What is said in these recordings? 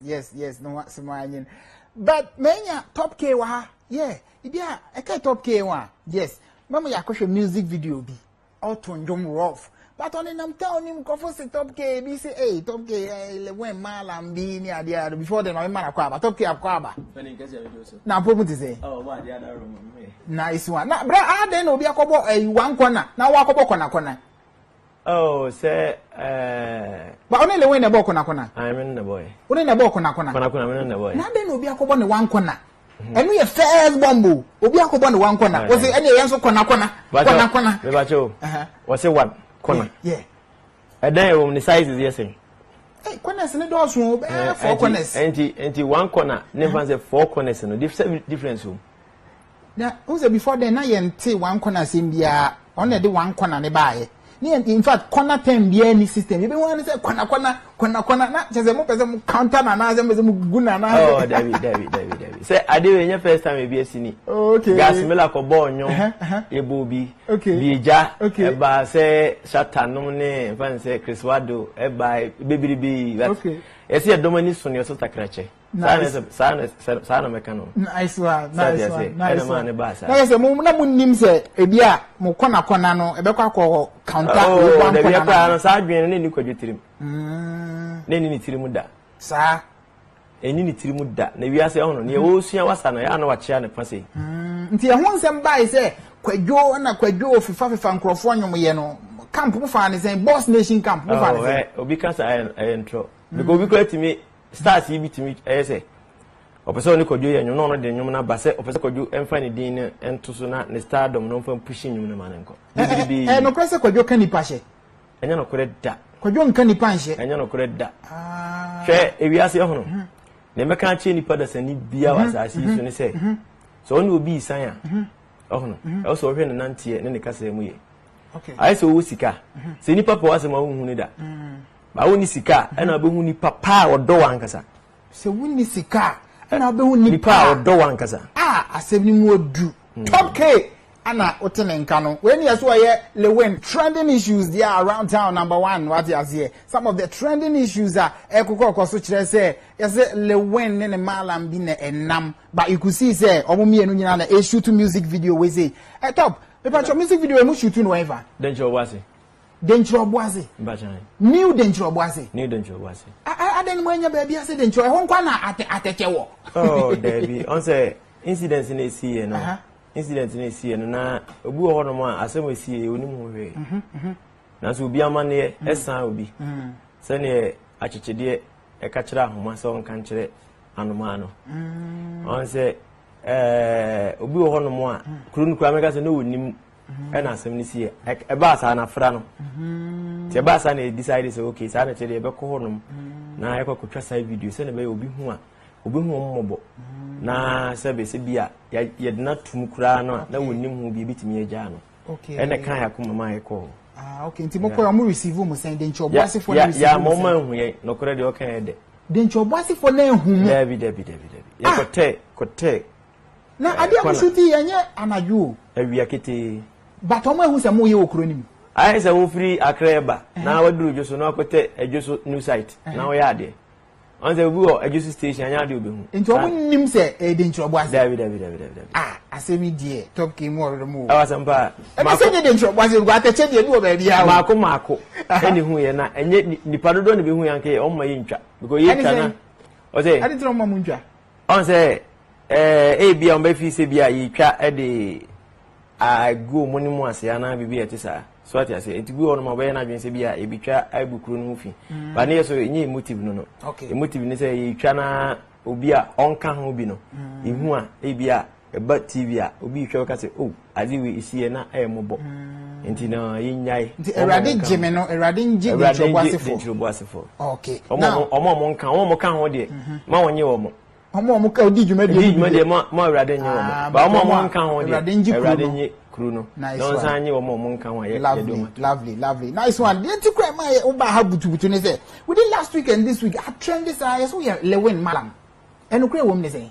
yes yes no wa sima anyin but menya top k wa ha yeah ibi a ɛka top k wa yes mɛmo yɛ akɔhwɛ music video bi ɔto ndwom rough but ɔne nam town nim nkɔfo si top k bi si ee eh, top k eh, eleven maala bi ne adeɛ ado before then ɔne mara kɔ aba top k akɔ aba na apɔ mu te sɛ oh, na esi wa na bra adan na obi akɔbɔ ɛyi eh, one corner na wɔn akɔbɔ kɔnakɔna. Oh, sɛ ɛɛ. Ba ɔne lewen na ɛbɔ ɔkonakona. Ayi mi ne na bɔ yɛ. Ɔne na ɛbɔ ɔkonakona. Konakona mi ne na bɔ yɛ. Na adɛn na obi akɔbɔ ne wa nkona. Ɛnu yɛ first bomb o. Obi akɔbɔ ne wa nkona. Wɔsi ɛni yɛn nso konakona. Konakona. Bɛbàkyɛ o. Wɔsi wa kona. Ɛdɛn ɛwɔ mu ne sizes yɛ sɛn. Hey, corners ne dɔɔso o bɛɛ four corners. Ɛnti ɛnti one corner ne nfa sɛ four corners no difference o. Na wohu sɛ before then na yɛnte one corner asɛm biara ɔno na ɛde one corner ne baayɛ ne yɛn in fact corner term biara ni system yɛbɛ hu ano sɛ corner corner corner corner na kyɛ sɛ mo pɛ sɛ mo counter na anaasɛ mo pɛ sɛ mo gu na anaasɛ. ɔɔ oh, dabi dabi dabi dabi sɛ ade wei nyɛ first time ebi esi ni. Oh, okay gas mela kɔ bɔɔl nyo ebo bi okay bi egya okay ɛba sɛ shata nom ne nfa n sɛ chris wado ɛba bebiri bi okay yɛsi ɛdɔm ani so ne ɔsɛ takrakyɛ. saa na sɛ saa na sɛ saa na mɛka no. nice one nice one nice one ɛna ne ba saa. na yɛ sɛ mo na mo nim sɛ ebi a mo kɔna kɔna no ɛbɛkɔ akɔ hɔ kanta oh, oyi ba nkɔna no. dabi ɛkura no saa adwene no ne ni kwadwo tirim. Mm. ne ni ne tirim da. saa. ɛni ne tirim da na wiase ɛho no nea mm. ɔresua wasa no ɛyɛ na wakyea ne fa sɛ. Mm. nti ɛho nsɛm baayi sɛ kwadwo na kwadwo fifa fifa nkurɔfoɔ nyom yɛ no camp mo fa ne sɛn boss nation camp mo fa ne oh, sɛn. Eh, obi kasa ɛyɛ ntorɔ. because obi koraa tumi stars yi bi tumi ɛyɛ sɛ ɔpɛ sɛ ɔne kwadwo yɛ nnwom na ɔno de nnwom no aba sɛ ɔpɛ sɛ kwadwo mfa ne din no nto so na ne star dɔm no mfa mpushi nnwom no ma no nkɔ bibiribi ɛɛ nokorɛ sɛ kwadwo ka nipa hyɛ ɛnyɛ nokorɛ da kwadwo nka nipa nhyɛ ɛnyɛ nokorɛ da ah. hwɛ ewiase ɛhono mhm. na ɛmɛka akyerɛ nipa dasani bia wɔ mhm. asase yi so mhm. ne sɛ sɛ ɔne obi isan a ɔhono ɛwɔ sɛ ɔhwɛ ne nanteɛ ne ne kasa mu yɛ ayɛ sɛ ɔwɔ sika sɛ nipa pɛ wɔ asɛm a wohu ne da Ma wonni sika a, ɛna wobɛhu nipa pa a ɔdɔ wo ankasa. Sɛ wonni sika a, ɛna wobɛhu nipa a ɔdɔ wo ankasa. A asɛm no mu ɔdu. Hmm. Top K ana wote ne nka no. Wei ne yɛ so ɔyɛ Lewin. Trending issues deɛ around town number one wate aseɛ. Some of the trending issues a ɛkokɔkɔ so kyerɛ sɛ yɛsɛ Lewin ne ne maalam bi na ɛnam. But you could see sɛ ɔmo mmienu nyinaa na ɛshoot music video wei sei. Ɛ eh, top, mepatwɔ music video emu shoot no ɛfa. Dɛn kyɛ ɔwɔ ase? Denkyerɛ Ɔboase. New Denkyerɛ Ɔboase. New Denkyerɛ Ɔboase. Adɛn mu anya baabi ase Denkyerɛ ɛhɔ nkwa na atɛkyɛ wɔ. Oh daabi ɔn sɛ incident na esi yɛ no incident na esi yɛ no na obi wɔ hɔ nom a asɛm esi yɛ onim ho hwee. Mhm, mhm. Nanso obi amaneɛ mhm. ɛsan obi sɛdeɛ akyekyedeɛ ɛka kyerɛ ahoma sɛ ɔnka nkyerɛ anomaa no ɔn sɛ ɛɛ obi wɔ hɔ nom a kuro no kura mɛka sɛ na onim. ɛna asɛm no si ɛbaa saa na afra no nti ɛbaa saa na ɛdecide sɛ ok saa na ɛkyɛ deɛ ɛbɛkɔ hɔ nom na ɛkɔ akɔtwa saa video sɛdeɛ ɛbɛyɛ obi hu a obi hu wɔn mmɔbɔ na sɛ bɛsɛ bi a yɛde no atum koraa no a na wɔnim ho bi ɛbɛtumi agyaa no ɛna kan yɛako mama a ɛkɔɔ ah, ok nti mokɔɛ ɔmo receive mu sɛn de nkyɛ ɔbɔ asefoɔ no receive mu sɛn yɛ mɔma ahu yɛ nɔkorɛ deɛ ɔka yɛ dɛ de nkyɛ ɔbɔ asefoɔ no ahu mu dabi dabi dabi dabi yɛkɔtɛ kɔtɛ Na adeɛ a mosu ti yi, ɛnyɛ anadwo o. Awia ketee. But wɔn ahu sɛ moreyɛ wɔ kuro no mu. Ayɛ sɛ wofiri Accra reba na waduru Adwo so na wakɔtɛ Adwo so new site na ɔreyɛ adeɛ. Ɔn sɛ obi wɔ Adwo so station anyɛ adeɛ a ɔbɛhu. Nti wɔn nnim sɛ ɛyɛ Denkyerɛbo ase? Dabi dabi dabi dabi dabi. Ah asɛm yi deɛ Top King mu ɔrere mo o. Ɛwɔ asɛm paa. Ɛbɛ sɛ nyɛ Denkyerɛbo ase nko atɛkyɛ deɛ bi wɔ baabi a o. Maako maako ɛna ehu yɛ na ɛnyɛ nipa dodoɔ na ebehu yɛ anka yɛ wɔn ma yɛ ntwa because yɛ twa na ɔsɛ. Ɛde ti na wɔn ma mo ntwa. Ɔn sɛ eh, ebia wɔn bɛ fii sɛ bi a yɛtwa de agu wɔn ne mu ase anaa biribi a ɛte saa. So ate aseɛ? Nti bi wɔ nom a wɔbɛyɛ n'adwene sɛ bi a yɛbɛtwa agu kuro no ho fi. Mm. Ba ne yɛ so ɛnyɛ emotive no no. Okay. Emotive ne sɛ yɛtwa na obi a ɔnka ho bi no. Mm. Ehu a ebi a ɛba tv a obi rehwɛ bɛka sɛ o oh, ade wei esi yɛ na ɛyɛ mmɔbɔ mm. nti na yɛnyae nti awurade gye me no awurade ngye denturoboasefo okay ɔmo ɔmo ɔmo nka ɔmo ɔmo ka ho deɛ mhm. ma wɔn nye wɔn ɔmo ɔmo ka odi dwuma deɛ odi dwuma deɛ ma ma awurade nye wɔn ah, ba ɔmo ɔmo nka ho deɛ awurade nye kuru no na ɔnsan nye wɔn ɔmo nka ho a yɛ yɛ dɔm ato lovely lovely nice one deɛ ti kura ɛma yɛ ɔba ha butubutu ne sɛ within last week and this week atrend saa yɛ so yɛ lewin malam ɛnukura wɔm ne sɛ.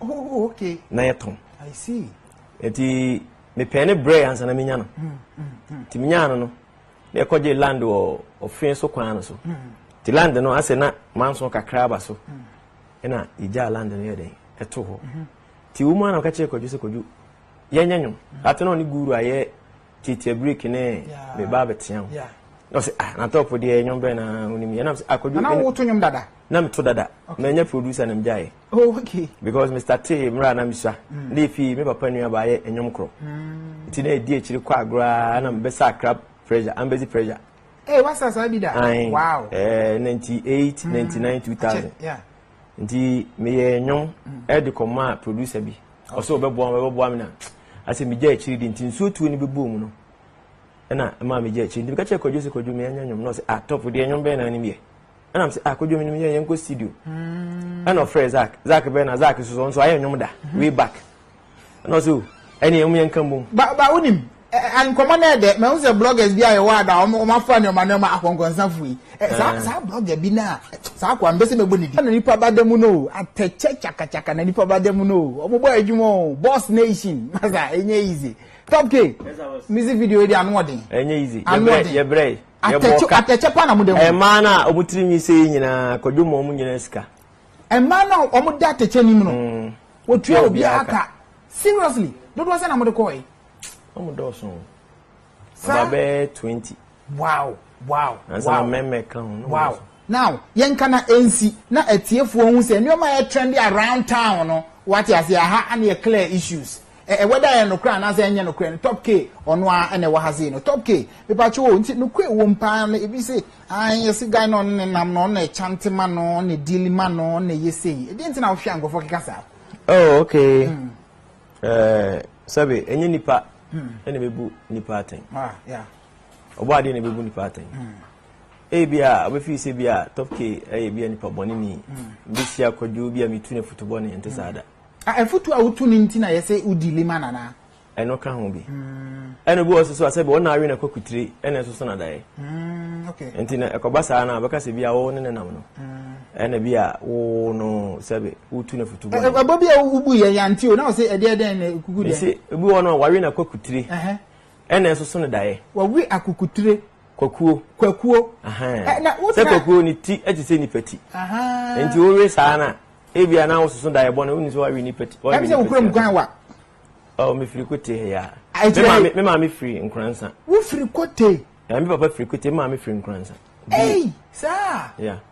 oh okay na yɛ tɔn i see eti me pɛn ne brɛ ansa na menya no hmm, hmm, hmm. ti menya no no na ɛkɔ gye land wɔ ɔfin so kwan no so ti land no asɛ na manso kakra aba so ɛna egya land no yɛ dɛ ɛto hɔ mhm. ti wɔn mu anam kakyɛ kɔdwo sɛ kɔdwo yɛn nyɛ nyom mhm. ati na ɔne guru ayɛ titi break ne me ba abɛtea ho na ɔsɛ ah na tɔpɔ deɛ nyom bɛn na onim yɛn nam sɛ akɔdwo ah, na woto nyom dada na meto dada mɛ nyɛ producer na megya yɛ. Oh, okay. Because Mr. T, Mra na Misa, mm. ne fi me papa nua ba ye enyom kro. Mm. Nti na edi ekyiri kwa agora na mbesa crab pressure, ambezi pressure. Eh, hey, what's that bida? Wow. Eh, 98, mm. 99, 2000. Yeah. Nti me ye enyom mm. e de koma producer bi. Okay. Oso obeboa, obeboa me na. Ase me gya ekyiri di nti nsuo tuo ni bebu mu no. E na ma me gya ekyiri. Nti me ka che kwadwo se kwadwo me anya enyom no se atop ah, de enyom be na ni me. ɛna sɛ ah kodwo menim yɛ yɛn kɔ studio hmm. ɛna ɔfrɛ zak zak bɛn na zak soso nso ayɛ nnwom da hmm. way back ɛna ɔsɛ o ɛne ɛmu yɛn kan bom. ba ba wonim nkɔmɔ na ɛdɛ mɛ n sɛ bloggers bi a yɛ wɔ ada wɔn afa nneɛma nneɛma akɔnkɔnsafo yi saa saa blogger bi na saa akɔ ambɛsɛ mɛ bɔ ne di. ɛna nipa ba dɛm no atɛkyɛ kyakakyaka na nipa ba dɛm no wɔn bɔ adwuma o boss nation masa enye easy top k music video di ano ɔden. enye easy yɛbrɛ yɛbrɛ. Atɛkyɛ ka. Atɛkyɛ pa na mo da mu. Mmaa no a wɔn tiri nwi sei nyinaa kwadwo ma wɔn nyinaa sika. Mmaa no a wɔn da atɛkyɛ nim no. Mm. Wɔtua obiara ka. Seriously, dodoɔ sɛ na mo de kɔɔ yi. Wɔn dɔɔso. Saa. Ɔba bɛɛ twenty. Wow wow. Ansa na mɛmɛ ka ho. Wow. Now, yɛnka na ɛnsi na atiefoɔ hu sɛ nneɛma a ɛyɛ trendy around town no, wate aseɛ, aha ana yɛ clear issues. Ɛ-ɛ whether ɛyɛ nokorɛ anaasɛ ɛnyɛ nokorɛ no, Top K ɔno ara ɛna ɛwɔ ha sei no. Top K, mepakyɛ o, nti nokorɛ ɛwom paa no, ebi se, ae, yɛse guy no ɔno na ɛnam no, ɔno na ɛchante ma no, ɔno na ɛdeali ma no, ɔno na ɛyɛ sei. Ɛdeɛn nti na wohwɛ a nkorɔfoɔ keka saa? Oh, okay. Mm. Eh, sɛbe, ɛnyɛ nipa, mm. ɛna bɛbu nipa atɛn. Ah, yeah. ɔbɔ adeɛ na ɛbɛbu nipa atɛn ebi a ɔbɛfi sɛ bi a top k ɛyɛ bi a nipa bɔne ni hmm. mbɛhyia kwadwo bi a metu no afutu bɔne ɛnte saa da afutu a wotu no nti na yɛsɛ wodi lima nana ɛno ka ho bi hmm. ɛna bi wɔ so so asɛ bi wɔna awe na kɔ kutire ɛna ɛsoso na daeɛ hmm, nti na ɛkɔba saa no a bɛka sɛ bi a wɔwo ne ne nam no ɛna bi a wo no sɛbe wotu no afutu bɔne ɛbɔ bi a wobu yɛ yante o na wɔ sɛ ɛdeɛ dɛn na kuku deɛ ɛbi wɔ no a wawe na kɔ kutire Ɛna ɛsoso no daeɛ. Wɔwe akukutire. Kwakuo. Kwakuo. Ahaa. Na wo tena. Sɛ kwakuo ne ti te sɛ nipa ti. Ahaa. Nti wowe saa na ebi a na wososo daeɛ bɔ na wonni sɛ wawe nipa ti. Ɛbi sɛ wokura mu kwan wa. Ɔ mefiri kote ha ya. Me maame firi nkoransa. Wofiri kote. Me papa firi kote me maame firi nkoransa. Ei saa. Yeah.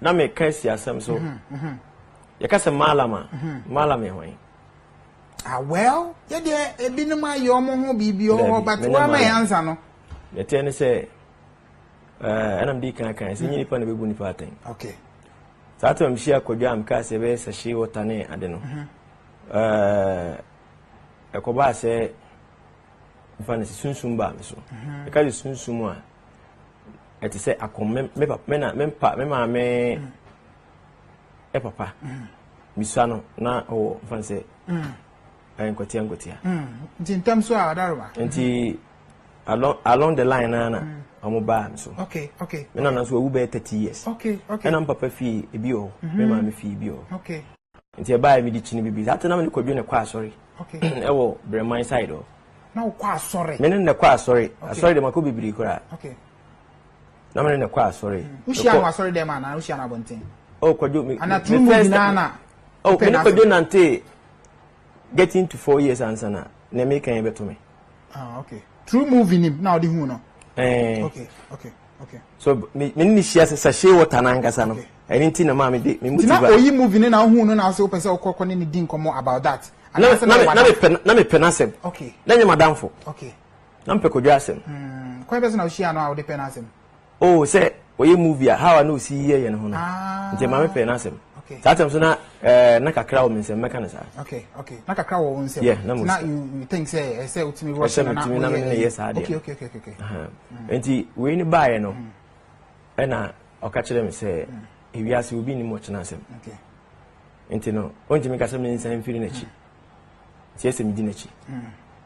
na meka asi asɛm so yɛka sɛ maalam a maalam yɛ hwan ah well yɛ deɛ ebinom ayɛ ɔmo ho biribi wɔ hɔ but wama yɛ ansa no yɛteɛ ne sɛ eh, ɛna mede kan kan sɛ nyɛ nipa na bɛbu nipa atɛn okay saa tam hyia kwadwa a mekaa sɛ ɛbɛyɛ sɛ hye wɔta ne ade no mhm. eh, ɛkɔbaa sɛ mfa no sɛ sunsum baa me so mhm. ɛka sɛ sunsum a ɛte sɛ akɔm me me papa me na me pa me maame mm. ɛ papa mm. misua no na ɔwɔ nfa sɛ mm. ɛyɛ nkɔtia nkɔtia. nti ntɛm so a ɔdaroma. nti along along the line na na ɔmo baa mi so. okay okay. mi nana nso ewu bɛyɛ thirty years. okay okay. ɛna n papa fie ebi wɔ hɔ mi maame fie ebi wɔ hɔ. okay. Nti ɛbaeɛ mede kyini biribi. Saa nti na mene Kwadwo na ɛkɔ asɔre ɛwɔ Brɛman side hɔ. Na wokɔ asɔre? Mene na ɛkɔ asɔre. Asɔre deɛ makɔ bebree koraa. Na mene na ɛkɔ asɔre. Hmm. Wohyia no asɔre dɛm anaa wohyia no abɔnten? Oh, Kwadwo. Ana turu mu nyinaa na. Oh, mene Kwadwo nante getting to four years ansa na na ɛmɛ kan yɛ bɛto me. ah okay true movie nim na ɔde hu no. ɛɛ eh. okay okay okay. so me me ni hyia sachet water na nkasa no ɛni okay. ti na maa mi de mi mu ti ba. ntina oyi movie ne na ohun no na ase o pɛ sɛ ɔkɔ kɔ ne ni di nkɔmɔ about that. na na mi na mi pɛ na mi pɛ n'asɛm. okay na nye madamfo. okay na mi pɛ kodwa asɛm. Hmm. kwan bɛ sɛ na o hyia no a o de pɛ n'asɛm. Oh sɛ ɔyɛ movie a how a na ɔsi yɛ yɛ ne ho no nti ma me pɛ n'asɛm saa tɛm so na ɛɛ na kakra wɔ me nsɛm mɛka no saa. okay okay na kakra wɔ wo nsɛm yeah na mo na you you think sɛ ɛsɛ eh, otumi rush na na otumi na me ne yɛ saa deɛ okay okay okay okay mm. nti wei ne baayɛ no mm. ɛna ɔka kyerɛ me sɛ mm. ewiase obi nim ɔkyena asɛm nti no ɔntumi ka sɛ me nsan mfiri n'akyi sɛ ɛsɛ me di n'akyi.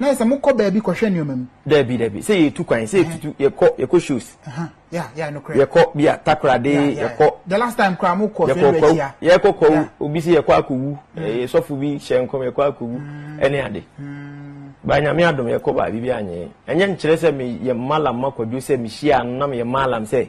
Na yɛ sɛ mo kɔ baabi kɔhwɛ nneɛma mu. Dabi dabi sɛ yɛtu kwan sɛ yɛtutu yɛkɔ yɛkɔ shows. Yeah yeah no korɛ. Yɛkɔ bi a takorade yɛkɔ. The last time koraa mo kɔ fɛn bɛ tia. Yɛkɔ kɔ wu obi sɛ yɛkɔ akɔ wu ɛyɛ sɔfo bi hyɛ nkɔm yɛkɔ akɔ wu ɛne ade. Ba nyame adom yɛkɔ baabi bi anyɛ ɛnyɛ nkyerɛ sɛ me yɛ malam ma kwadwo sɛ me hyia no na me yɛ malam sɛ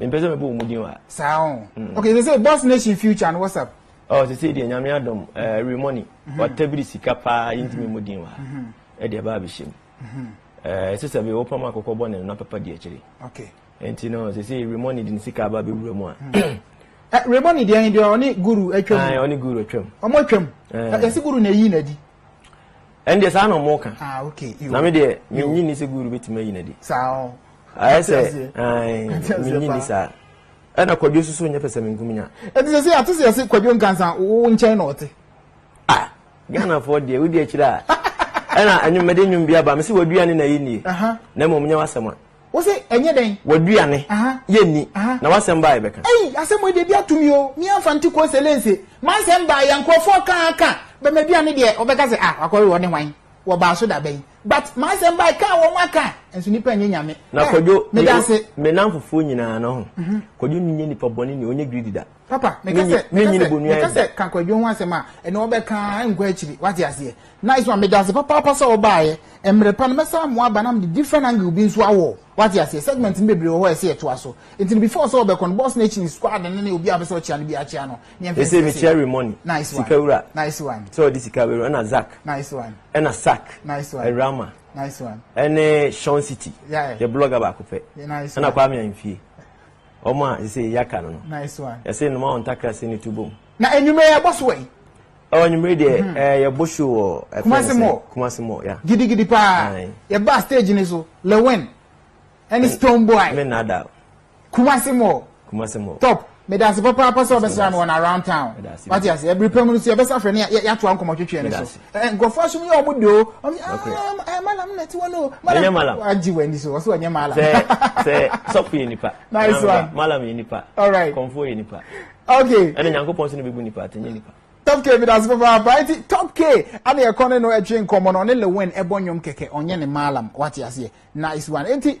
Mempɛ sɛ mebɔ wɔn din wa. Saa o. Mm. Okay, sɛ Boss Nation Future no WhatsApp. Oh, sɛ sɛ deɛ nyame adom uh, eh, remoni mm-hmm. watabiri sika paa yɛntumi mm-hmm. mu din wa mm-hmm. ɛde ɛbaa bɛhyɛ mu eh, ɛsɛ sɛ bɛwɔ pam akɔkɔ bɔ ne no na papa di akyire ɛnti no sɛ sɛ remoni de ne sika aba bɛwura mu a eh, remoni deɛ he deɛ ɔne guru atwam ɔne guru atwam ɔmo atwam yɛse guru na ɛyi na adi Ɛn deɛ saa na ɔmo ka. Ah okay. Na me deɛ me nyi ni sɛ guru betumi ayi n'adi. Saa o. Ayɛ sɛ ɛn me nyi ni saa. Ɛna kwadwo soso nyɛ pɛsɛ me nkuminya. Ɛti sɛ sɛ ate sɛ yɛse kwadwo nkansa wo nkyɛn na ɔte. Ah Ghana foɔ deɛ wodi akyire a. Ɛna ɛnwom mɛde nwom bi aba me se wadua ne na yɛ nie. Na mmom nyɛ wasɛm a. Wo se ɛnyɛ dɛn? W'aduane yɛ nni, na w'asɛm baa yɛbɛka. Ei, asɛm wei deɛ ebi ato me o, me amfa nte Kose Lense. M'asɛm baa yɛ, nkurɔfoɔ ka ara ka, bɛ m'aduane deɛ, wɔbɛka sɛ ah, wakɔwe wɔne hwan? Wɔbaa so da bɛn? But m'asɛm baa ka a wɔn aka, nso nipa nyɛ Nyame. Na Kwadwo, me, me nnamfofoɔ nyinaa no ho, Kwadwo nyɛ nipa bɔne ni, ɔnyɛ greedy da. Papa, meka sɛ, meka sɛ, meka sɛ kankwadwo ho asɛm a, ɛne wɔbɛka nkɔ akyiri, wate aseɛ. Nice one, meda ase papaapa sɛ wobaeɛ. Mmerɛ pa no, mɛsan amoa aba na mede different angle bi nso awɔ, wate aseɛ. Segment no bebree wɔ hɔ a ɛsɛ yɛtoa so. Nti no, before sɛ wɔbɛkɔ no, boss no akyi no, squad no ne obi a wopɛ sɛ wokyea no biara kyea no, ne yɛmfa nsi ase. Ɛsei, mekyea Remoni, nice one, sika wura, nice one, sɛ ɔde sika bɛwura, ɛna Zak, nice one, ɛna Sak, nice one, Rama, nice one, ɛne Sean City, yeah, yɛ blogger baako pɛ, nice one, ɛna Kwame Ahimfie. Wɔn a seesei yɛaka no no. Nice one. Yɛse nnoma wɔn ntakra se ne tu bom. Na anwummerɛ yi ɛbɔ so ɛyi? Ɛwɔ anwummerɛ deɛ mm-hmm. eh, yɛbɔ show wɔ eh, Kumasi Mall. Kumasi Mall, yeah. Gidigidi paa. Yɛba stage ni so. Lewin. Ɛne Stone Boy. Me nada. Kumasi Mall. Kumasi Mall. Top. Medase papaapa sɛ ɔbɛsra me wɔn around town. Wate ase. Ɛbiri pɛ mu no so yɛbɛsa frɛ ne yɛatoa nkɔmmɔ twetwe ne so. Eh, nkurɔfoɔ asom yɛ ɔmo de o ɔmo ah, eh, malam na ɛte wɔn o malam malam agye wɔn ani so wɔsɛ wɔnyɛ malam. sɛ sɛ sɔfo yɛ nipa nice one malam yɛ nipa alright kɔnfo yɛ nipa okay ɛna nyankopɔn so na bɛbu nipa atɛnyɛ nipa top k bi dase papaapa eti top k ana ɛkɔ ne no ɛtwe nkɔmɔ no ɔne lewin ɛbɔ nnwom kɛkɛ ɔnyɛ ne maalam wate aseɛ nice one eti